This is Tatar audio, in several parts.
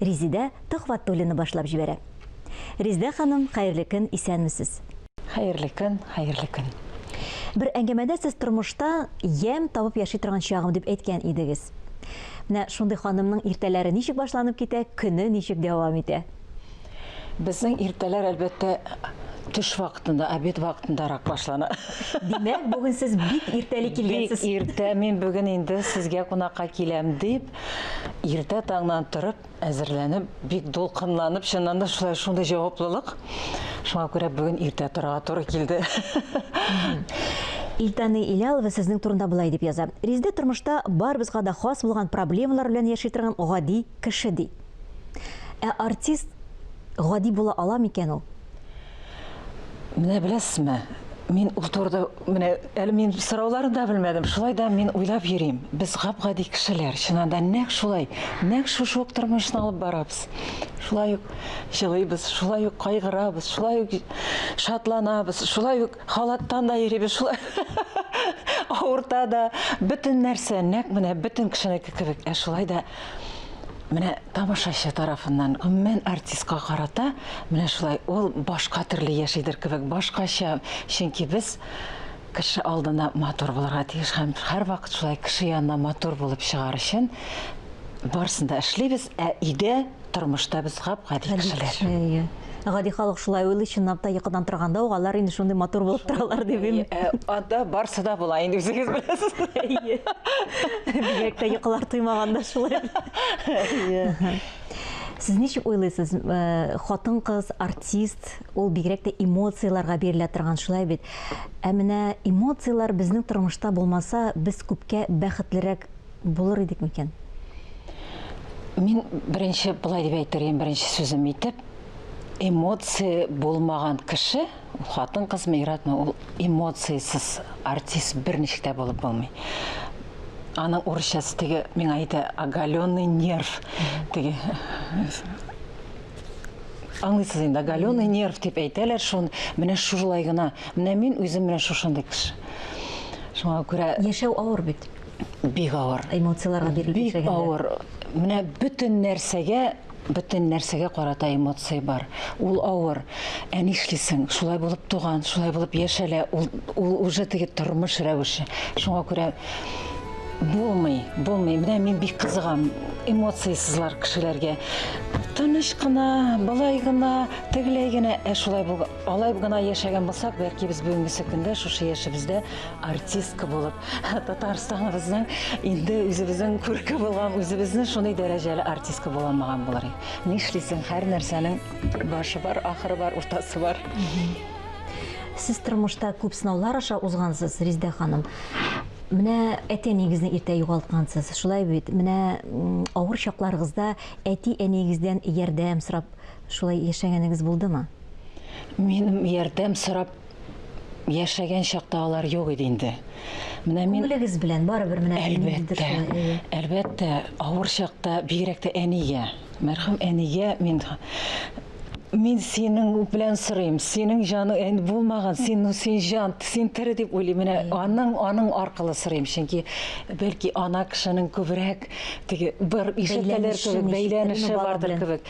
Резидә Төхвәтуллина башлап җибәрә. Резидә ханым, хәерле көн, исәнмесез! Хәерле көн, хәерле көн! Бер әңгәмәдә сез тормышта ямь табып яши торган чагым дип әйткән идегез. Менә шундый ханымның иртәләре ничек башланып китә, көне ничек дәвам итә? Безнең иртәләр, әлбәттә, төш вакытында, обед вакытындарак башлана. Димәк, бүген сез бик иртәли килгәнсез. Бик иртә, мин бүген инде сезгә кунакка киләм дип, Иртә таңнан торып, әзерләнеп, бик дулкынланып, чыннан да шулай шундый җаваплылык. Шуңа күрә бүген иртә торырга туры килде. Илтани Илялова сезнең турында болай дип яза, Резеда тормышта барыбызга да хас булган проблемалар белән яши торган гади кеше, ди. Ә артист гади була ала микән ул? Менә беләсезме, мин ул турыда менә әле мин сорауларын да белмәдем. Шулай да мин уйлап йөрим. Без гап-гади кешеләр, чыннан да нәкъ шулай, нәкъ шушы ук тормышны алып барабыз. Шулай ук җылыйбыз, шулай ук кайгырабыз, шулай ук шатланабыз, шулай ук халаттан да йөрибез, шулай авырта да. Бөтен нәрсә нәкъ менә бөтен кешенеке кебек. Ә шулай да Менә тамашачы тарафыннан гомумән артистка карата менә шулай ул башка төрле яшидер кебек, башкача, чөнки без кеше алдына матур булырга тиеш һәм һәрвакыт шулай кеше янына матур булып чыгар өчен барысын да эшлибез, ә өйдә тормышта без гап-гади кешеләр. Әйе. Гади халык шулай уйлый, чынлап та йокыдан торганда ук алар инде шундый матур булып торалар дип инде. Э, анда барсы да була инде үзегез беләсез. Әйе. Бигрәк тә йокылар туймаганда шулай. Сез ничек уйлыйсыз, э, хатын-кыз, артист, ул бигрәк тә эмоцияләргә бирелә торган шулай бит. Ә менә эмоцияләр безнең тормышта булмаса, без күпкә бәхетлерәк булыр идек микән? Мин беренче былай дип әйтер идем, беренче сүзем итеп, эмоция булмаган кеше, хатын кызмы, иратмы, ул эмоциясез артист берничек тә булып булмый. Аның урысчасы теге миңа әйтә оголенный нерв теге аңлыйсыз инде оголенный нерв дип әйтәләр шуны менә шулай гына менә мин үзем менә шушындый кеше шуңа күрә яшәү авыр бит бик авыр. Эмоцияләргә бирелеп яшәгәндә. Бик авыр. Менә бөтен нәрсәгә бөтен нәрсәгә карата эмоция бар. Ул авыр. Ә нишлисең? Шулай булып туган, шулай булып яшәлә. Ул ул уже теге тормыш рәвеше. Шуңа күрә булмый, булмый. Менә мин бик кызыгам эмоциясезләр кешеләргә. Тыныч кына, былай гына, тегеләй генә, ә шулай булган. Алай гына яшәгән булсак, бәлки без бүгенгесе көндә шушы яшебездә артистка булып, Татарстаныбызның инде үзебезнең күрке булган, үзебезне шундый дәрәҗәле артистка була алмаган булыр идек. Нишлисең, һәр нәрсәнең башы бар, ахыры бар, уртасы бар. Сез тормышта күп сынаулар аша узгансыз, Риздә ханым. Менә әти-әниегезне иртә югалткансыз, шулай бит? Менә авыр чакларыгызда әти-әниегездән ярдәм сорап шулай яшәгәнегез булдымы? Минем ярдәм сорап яшәгән чакта алар юк иде инде. Менә мин Күңелегез белән барыбер менә әлбәттә, әлбәттә, авыр чакта бигрәк тә әнигә, мәрхүм әнигә мин мин синең белән сорыйм, синең җаның ән булмаган, син син җан, син тере дип уйлыйм. Менә аның аның аркылы сорыйм, чөнки бәлки ана кешенең күбрәк теге бер ишетәләр кебек бәйләнеше бардыр кебек.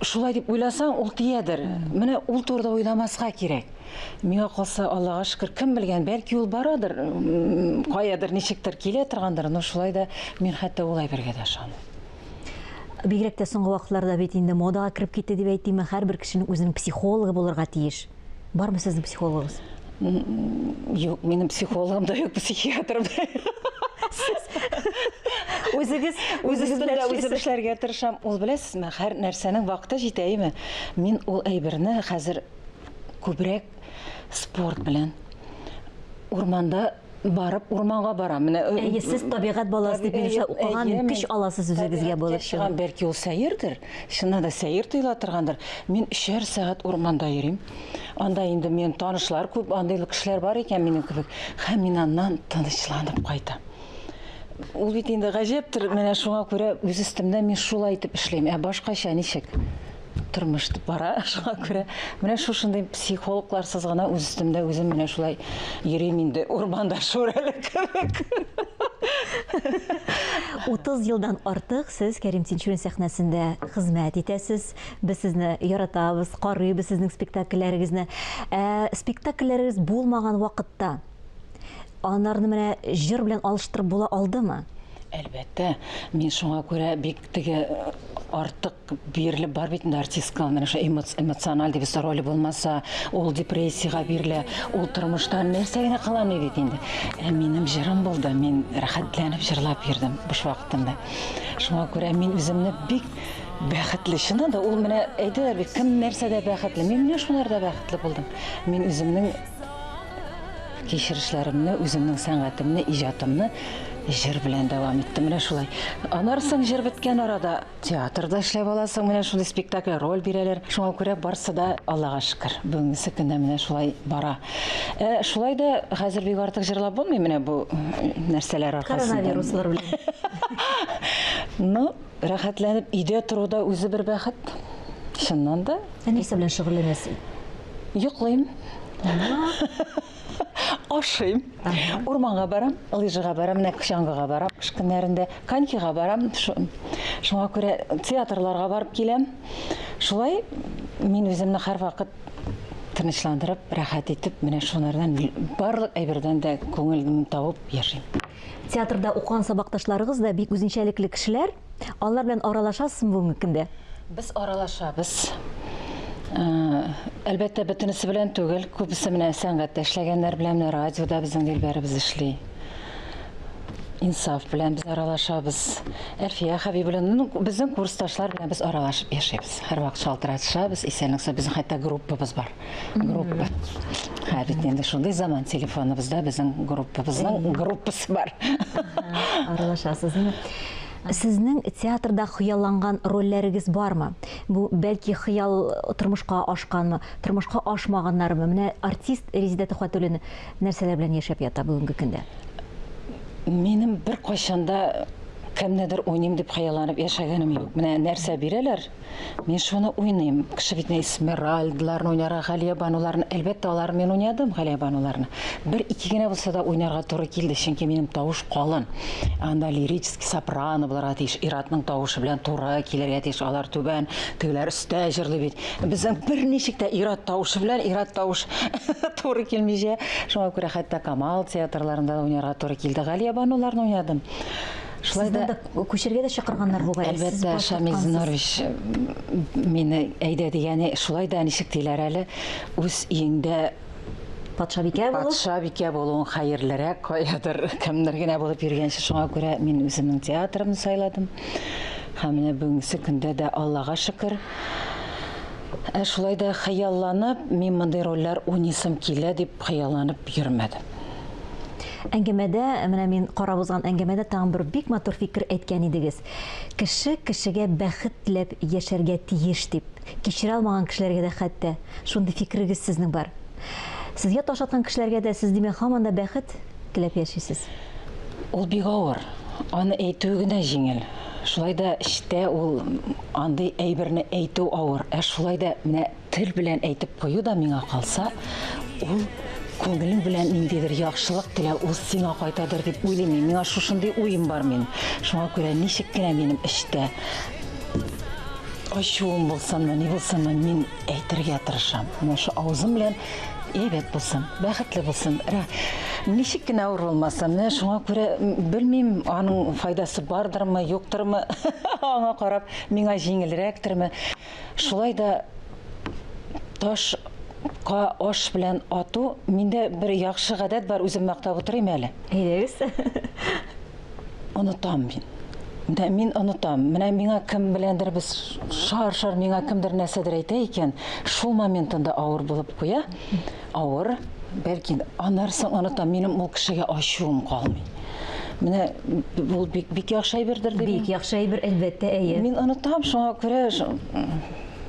Шулай дип уйласаң, ул тиядер. Менә ул турыда уйламаска кирәк. Миңа калса, Аллага шөкер, кем белгән, бәлки ул барадыр, каядыр, ничектер килә торгандыр, но шулай да мин хәтта ул әйбергә дә ышанмыйм. Бигрәк тә соңгы вакытларда бит инде модага кереп китте дип әйтимме, һәрбер кешенең үзенең психологы булырга тиеш. Бармы сезнең психологыгыз? Юк, минем психологым да юк, психиатрым да Үзегез үзегез белән үзем эшләргә тырышам. Ул беләсезме, һәр нәрсәнең вакыты җитәеме? Мин ул әйберне хәзер күбрәк спорт белән урманда барып урманга барам. Менә э, Әйе, сез табигать баласы дип минемчә укыган, көч аласыз үзегезгә булып чыгып. Бәлки ул сәердер, чыннан да сәер тоела торгандыр. Мин өчәр сәгать урманда йөрим. Анда инде мен танышлар күп, андый кешеләр бар икән минем кебек. Һәм мин аннан тынычланып кайтам. Ул бит инде гаҗәптер, менә шуңа күрә үз өстемдә мин шулай итеп эшлим. Ә башкача ничек? тормыш итеп бара. Шуңа күрә менә шушындый психологларсыз гына үз өстемдә үзем менә шулай йөрим инде урманда шүрәле кебек. 30 елдан артык сез Кәрим Тинчурин сәхнәсендә хезмәт итәсез. Без сезне яратабыз, карыйбыз сезнең спектакльләрегезне. Ә спектакльләрегез булмаган вакытта анарны менә җыр белән алыштырып була алдымы? Әлбәттә, мин шуңа күрә бик теге артык бирелеп бар бит инде артистка менә шул эмоциональ дибез роль булмаса ул депрессиягә бирелә ул тормышта нәрсә генә кыламый бит инде ә минем җырым булды мин рәхәтләнеп җырлап йөрдем буш вакытымда шуңа күрә мин үземне бик бәхетле чыннан да ул менә әйтәләр бит кем нәрсәдә бәхетле мин менә шуларда бәхетле булдым мин үземнең кичерешләремне үземнең сәнгатемне иҗатымны җыр белән дәвам иттем менә шулай аннары соң җыр беткән арада Театрда эшләп аласың, менә шундый спектакль роль бирәләр. Шуңа күрә барсы да Аллага шөкер. Бүгенге көндә менә шулай бара. Ә шулай да хәзер бик артык җырлап булмый менә бу нәрсәләр аркасында. Коронавируслар белән. Ну, рәхәтләнеп өйдә тору да үзе бер бәхет. Чыннан да. Ә нәрсә белән шөгыльләнәсең? Йоклыйм. ашыйм урманга барам лыжага барам менә чаңгыга барам кыш көннәрендә конькига барам шуңа күрә театрларга барып киләм шулай мин үземне һәрвакыт тынычландырып рәхәт итеп менә шулардан барлык әйбердән дә күңелемне табып яшим театрда укыган сабакташларыгыз да бик үзенчәлекле кешеләр Алар белән аралашасызмы бүгенге көндә? Без аралашабыз. Э, әлбәттә, бөтенесе белән түгел. Күбесе менә сәнгатьтә эшләгәннәр белән, менә радиода безнең дилбәребез эшли. Инсаф белән без аралашабыз. Әлфия Хәбиб белән ну, безнең курсташлар белән без аралашып яшәбез. Һәрвакыт шалтыратышабыз, исәнлек-сау. Безнең хәтта группабыз бар. группа ә бит инде шундый заман телефоныбызда безнең группабызның группасы бар аралашасызмы Сезнең театрда хыялланган рольләрегез бармы? Бу бәлки хыял тормышка ашканмы, тормышка ашмаганнармы? Менә артист Резидә Төхвәтуллин нәрсәләр белән яшәп ята бүгенге көндә? Минем бер кайчанда кемнедер уйныйм дип хыялланып яшәгәнем юк. Менә нәрсә бирәләр, Мин шуны уйныйм. Кеше бит нә Эсмеральдаларны уйнарга, Галия бануларны, әлбәттә, алар мин уйнадым, Галия бануларны. Бер ике генә булса да уйнарга туры килде, чөнки минем тавыш калын. Анда лирический сопрано булырга тиеш, ир-атның тавышы белән туры килергә тиеш. Алар түбән, тегеләр өстә җырлый бит. Безнең берничек тә ир-ат тавышы белән ир-ат тавыш туры килмичә. Шуңа күрә хәтта Камал театрларында да уйнарга туры килде. Галия бануларны уйнадым. Шулай да күчергә дә чакырганнар бугай. Әлбәттә, Шамил Зинорович мине әйдә дигәне, шулай да ничек диләр әле, үз өеңдә патшабикә булу. Патшабикә булуың хәерлерәк, каядыр кемнәр генә булып йөргәнче, шуңа күрә мин үземнең театрымны сайладым. Һәм менә бүгенге көндә дә Аллага шөкер, Ә шулай да хыялланып, мин мондый рольләр уйныйсым килә дип хыялланып йөрмәдем. Әңгәмәдә, менә мин карап узган әңгәмәдә тагын бер бик матур фикер әйткән идегез. Кеше кешегә бәхет теләп яшәргә тиеш дип. Кичерә алмаган кешеләргә дә хәтта шундый фикерегез сезнең бар. Сезгә таш аткан кешеләргә дә сез, димәк, һаман да бәхет теләп яшисез. Ул бик авыр. Аны әйтүе генә җиңел. Шулай да эчтә ул андый әйберне әйтү авыр. Ә шулай да менә Тел белән әйтеп кую да миңа калса, ул күңелең белән ниндидер яхшылык телә, ул сиңа кайтадыр дип уйлыйм мин. Миңа шушындый уем бар мин. Шуңа күрә ничек кенә минем эчтә ачуым булсынмы, ни булсынмы, мин әйтергә тырышам. Менә шу авызым белән әйбәт булсын, бәхетле булсын. Рә, ничек кенә авыр булмасын. Менә шуңа күрә белмим, аның файдасы бардырмы, юктырмы. Аңа карап, миңа җиңелрәктерме. Шулай да таш ка аш белән ату, миндә бер яхшы гадәт бар, үзем мактап утырыйм әле. Әйдәгез. Онытам мин. Менә мин онытам. Менә миңа кем беләндер без шар-шар миңа кемдер нәрсәдер әйтә икән, шул моментында авыр булып куя. Авыр, бәлки анарсың оныта, минем ул кешегә ачуым калмый. Менә ул бик, бик яхшы әйбердер дип. Бик яхшы әйбер, әлбәттә, әйе. Мин онытам, шуңа күрә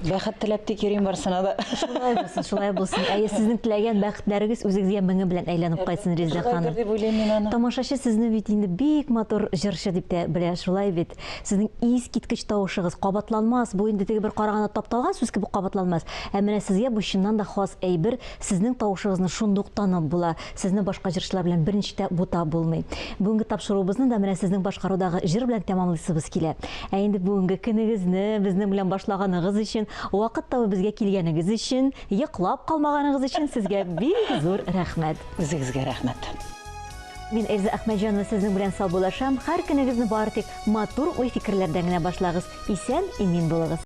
бәхет теләп тик йөрим барсына да. Шулай булсын, шулай булсын. Әйе, сезнең теләгән бәхетләрегез үзегезгә меңе белән әйләнеп кайтсын, Резеда ханым. Тамашачы сезне бит инде бик матур җырчы дип тә белә, шулай бит? Сезнең искиткеч тавышыгыз, кабатланмас, бу инде теге бер караганда тапталган сүз кебек кабатланмас, ә менә сезгә бу чыннан да хас әйбер, сезнең тавышыгызны шундук танып була, сезне башка җырчылар белән берничек тә бутап булмый. Бүгенге тапшыруыбызны да менә сезнең башкарудагы җыр белән тәмамлыйсыбыз килә. Ә инде бүгенге көнегезне безнең белән башлаганыгыз өчен, вакыт табып безгә килгәнегез өчен, йоклап калмаганыгыз өчен сезгә бик зур рәхмәт! Үзегезгә рәхмәт! Мин Эльза Әхмәтҗанова сезнең белән саубуллашам, хәр көнегезне бары тик матур уй-фикерләрдән генә башлагыз, исән-имин булыгыз.